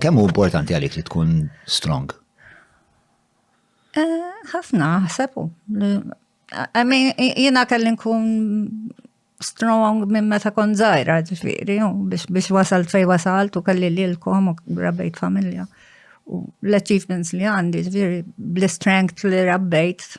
Kemm hu importanti għalik li tkun strong? Eh, ħafna, ħsebu. I mean, jina kelli nkun strong minn meta kon zaħira ġifiri, biex wasal fej wasal tu kelli li l-kom u rabbejt familja. U l-achievements li għandi ġifiri, bl-strength li rabbejt,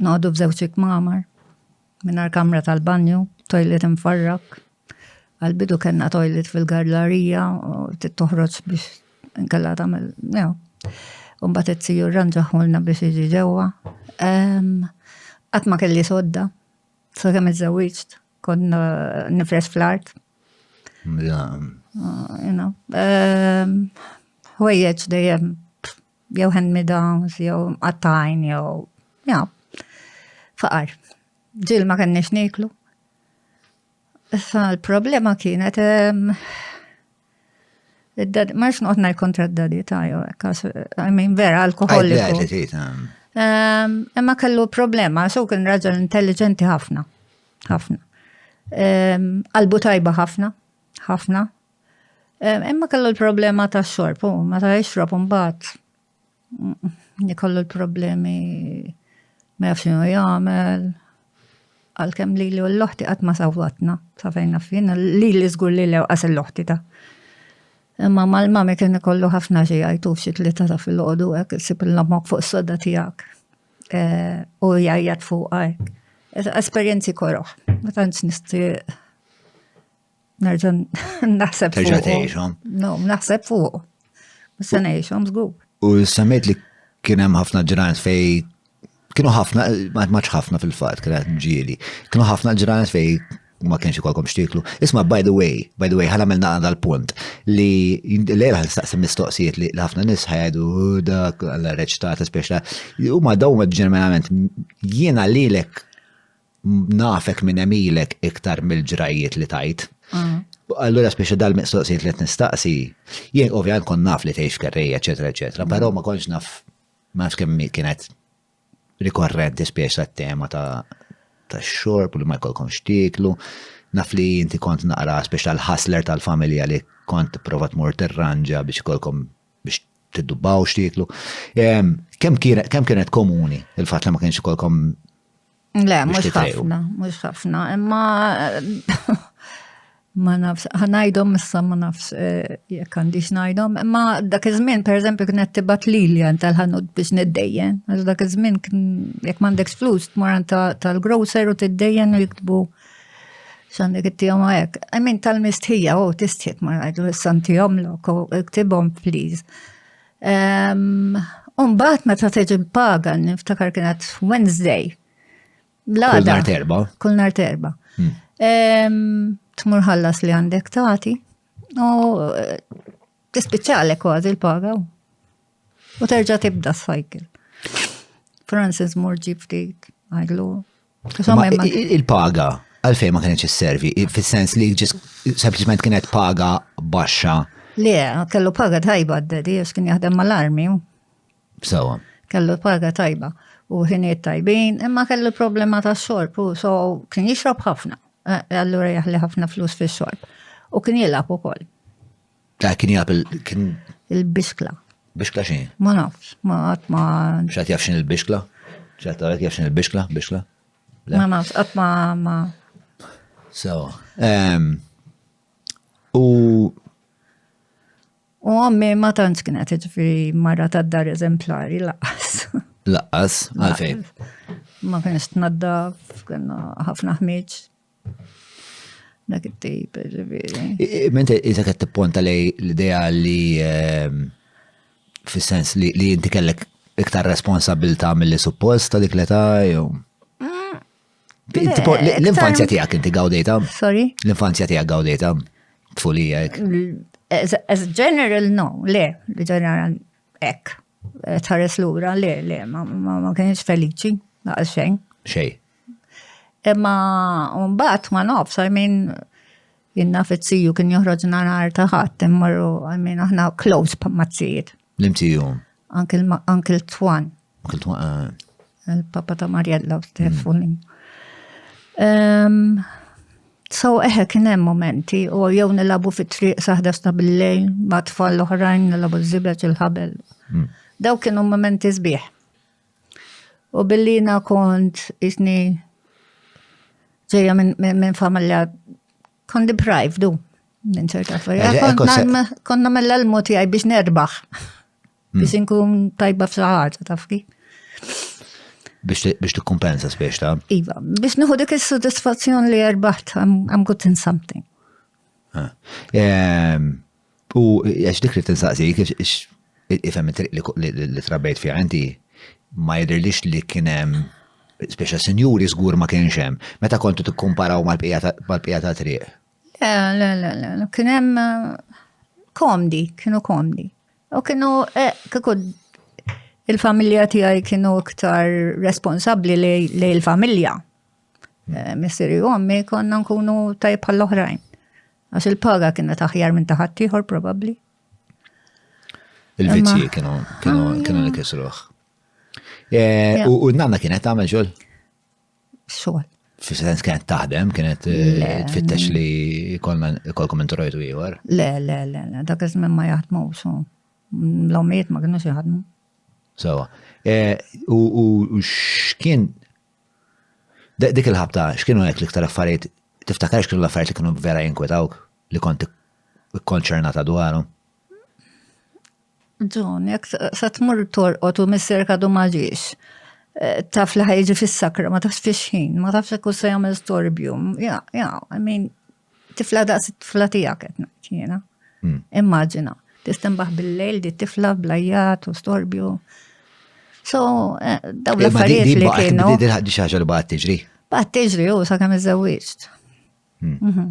Noqogħdu f'żewġ ikmamar, mingħajr kamra tal-banju, toilet imfarrak. Għal-bidu kellna toilet fil-garlarija, toħroġ biex nkella tagħmel, jew. Umbat it-tiju rranġaħulna biex iġi ġewwa. Qatt ma kelli sodda, sa kemm iżżewwiġt, konna nifres fl-art. Ħwejjeġ dejjem jew hand me downs, jew mqattajn, jew ja, faqar. Ġil ma kenniex niklu. Issa l-problema kienet ma nix noqgħod ngħid kontra d-dadi ta' jew I mean vera alkoholiku. Imma kellu problema, so kien raġel intelligenti ħafna. Ħafna. Qalbu tajba ħafna, ħafna, Imma kellu l-problema ta' xorb, u ma ta' xorb mbagħad nikollu l-problemi ma jafx xinu jagħmel. Għalkemm li li l-loħti qatt ma sawwatna, ta' fejna fin, li li żgur li lew qas l-loħti ta' Imma mal-mami kien ikollu ħafna xi jgħidu xi tlieta ta' fil-ħodu hekk isib l-ommok fuq s-soda tiegħek u jgħajjat fuqha hekk. Esperjenzi koroh, ma tantx nixtieq. Nerġa' naħseb fuq. Terġa' tgħixhom. No, naħseb fuq. Se ngħixhom żgur. U semmejt li kien hemm ħafna ġranet fej kienu ħafna, maċ ħafna fil-fat, kienet ġieli, kienu ħafna ġranet fej ma kienx ikolkom xtiklu. Isma, by the way, by the way, ħana melna għanda l-punt li l-għera staqsim mistoqsijiet li ħafna nis ħajdu dak l-reċtat, speċa, u ma daw ġeneralment jiena li l-ek nafek minn emilek iktar mill-ġrajiet li tajt. Mm. Allura speċi dal-mistoqsijiet li qed nistaqsi, jien ovvjament kon naf li tgħix kerrejja, eċetera, eċetera, però ma konx naf ma nafx kemm kienet rikorrenti spiex ta' tema ta' ta' xorb li ma jkollkom xtieklu. Naf li inti kont naqra spiex tal-ħasler tal-familja li kont provat mur terranġa biex kolkom biex tiddubaw xtieklu. Kem kienet komuni il-fat li ma kienx kolkom Le, mhux ħafna, mhux ħafna, imma ma nafx, ħanajdhom issa ma nafx eh, jekk għandix ngħidhom, imma dak iż-żmien pereżempju kienet tibgħat lili tal-ħanut biex niddejjen, għax dak iż-żmien jekk m'għandekx flus tmur tal-grocer u tiddejjen u jiktbu xandek it-tijom għek. Għamin tal-mistħija, u tistħiet ma rajdu s-santijom l-ok, ktibom, please. Umbat meta teġi l-paga, niftakar kienet Wednesday. Kull nar terba. Kull nar terba. Hmm. Tmur ħallas li għandek tati. U eh, tispiċċalek kważi l-paga. U terġa tibda s-cycle. Francis mur ġifti, għajlu, Il-paga għalfejn ma kienx isservi, fis-sens li ġis sempliċement kienet paga baxxa. Le, kellu paga tajba d-dedi, għax kien jaħdem mal-armi. Sawa. Kellu paga tajba u ħiniet tajbin, imma kellu problema ta' xorb u so kien jixrob ħafna. Eh, allura jaħli ħafna flus fi xorb. U kien jilab u koll. Ta' kien jaf kien. Il-bixkla. Bixkla xi? Ma nafx, ma qatt ma. X'għad jaf x'in il-bixkla? X'għad tara jaf x'in il-bixkla, bixkla? Ma nafx, qatt ma ma. So, ehm, u U għammi ma tantx kienet ġifiri marra ta' dar eżemplari laqas. Laqas, għalfejn. Ma kienx tnaddaf, kienna ħafna ħmieġ, Dak it-tip, ġifieri. Mente iżek qed tipponta lej l-idea li ehm, fis-sens li inti kellek iktar responsabilta mill-li suppost ta' dik l-età jew. Mm. Eh, l-infanzja tiegħek inti gawdejta? Sorry? L-infanzja tiegħek gawdejta? Tfulija hekk. As general no, le, general hekk. Eh, tħares lura le, le, ma kienx feliċi, naqas xejn. Xej. Imma mbagħad ma nofs, I mean, jinna fizziju kien joħroġna nhar ta' ħadd immorru, I mean, aħna close pa' mazzijiet. L-imtiju. Uncle Twan. Uncle Twan. Eh. Il-papa ta' Marjella u Stefani. Mm. So, eħe, kien hemm momenti, u jew nilabu fit triq saħda sta bil-lejl, ma tfal l-oħrajn nilabu z-zibet il-ħabel. Mm. Daw kienu momenti zbieħ. U billi jina kont isni ġeja minn familja kont deprived du minn ċerta familja. Konna mella l moti għaj biex nerbaħ. Hmm. Biex inkun tajba f'saħħaġa taf kif. Biex tikkumpensa spiex ta' Iva, biex nieħu dik is-sodisfazzjon li erbaħt I'm good in something. Ah. Ehm, U għax dik li tinsaqsik, ifhem it-triq li trabejt fiha inti, ma jidhirlix li kien hemm speċa sinjuri żgur ma kienx hemm. Meta kontu tikkumparaw mal-bqija ta' triq? Le, le, le, le, kien hemm komdi, kienu komdi. U kienu, eh, kieku il-familja tiegħi kienu iktar responsabbli li l-familja. Eh, Missiri u għammi konna nkunu tajb bħall-oħrajn. Għax il-paga kienet aħjar minn ta' ħaddieħor probabbli. Il-vizzji kienu kienu ah, kienu li kisruħ. Eh, u n-nanna kienet tagħmel xogħol? Xogħol. Fis-sens kienet taħdem, kienet eh, tfittex li kolkom introjtu ieħor. Le, le, le, le, dak iż-żmien ma jaħdmu so. L-omiet ma kienux jaħdmu. Sawa. Eh, u x'kien Dik il-ħabta, x'kienu hekk l-iktar affarijiet, tiftakar x'kienu l-affarijiet li kienu vera jinkwetawk li kont ikkonċernata dwarhom? Ġun, jekk se tmur torqod u missier kadu ma ġiex, eh, taf li ħajġi fis-sakra, ma tafx fix-ħin, ma tafx jekk se jagħmel storbju. Ja, ja, I mean, Tifla daqs it-tifla tiegħek qed ngħid jiena. Hmm. Immaġina, tistembaħ bil-lejl di tifla blajjat u storbju. So, eh, daw eh, l-affarijiet li kienu. Di ħaddi xaġa li baqgħet tiġri. Baqgħet tiġri u sakemm iżewwieġt. Hmm. Mhm.